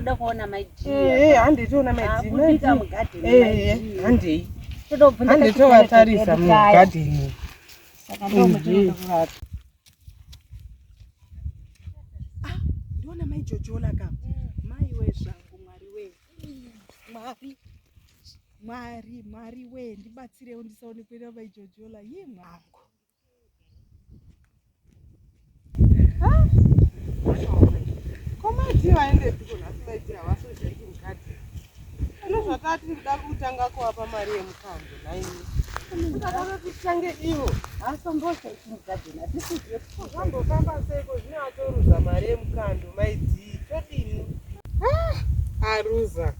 tinoda kuona maidiahandei handei tovatarisa mugadheni ah, ndiona mai jojola ka mm. mai we zvangu mwari we mwari mwari mwari we ndibatsirewo ndisaonekwera mai jojola ye mwangu komati vaendepiko nhasi vaitira vasojaiki mukadzi Ndozvataa tiri kuda kutanga kuapa mari yemukando naini. Ndakada kutange ivo asombosa chimugadzina tisizive kuti zvambofamba seiko zvine atoruza mari yemukando maidzii todini. Ah, aruza.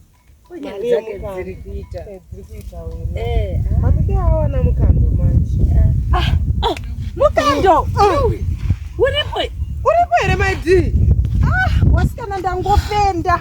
Kunyange Mari dzake yemukando. dziri kuita. Eh, dziri kuita wena. Eh, ah. Mamide awana mukando manje. Mukando. Uripo. Uripo here maidii? Wasikana ndangofenda.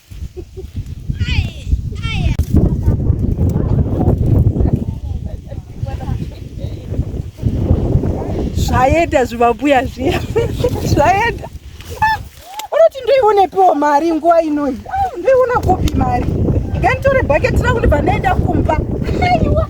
zvaenda zvimambuya zviya zvaenda unoti ah, ndoionepiwo mari nguva inoi ah, ndoiona kupi mari nganitore bhaketi rangu ndibva ndaenda kumba aiwa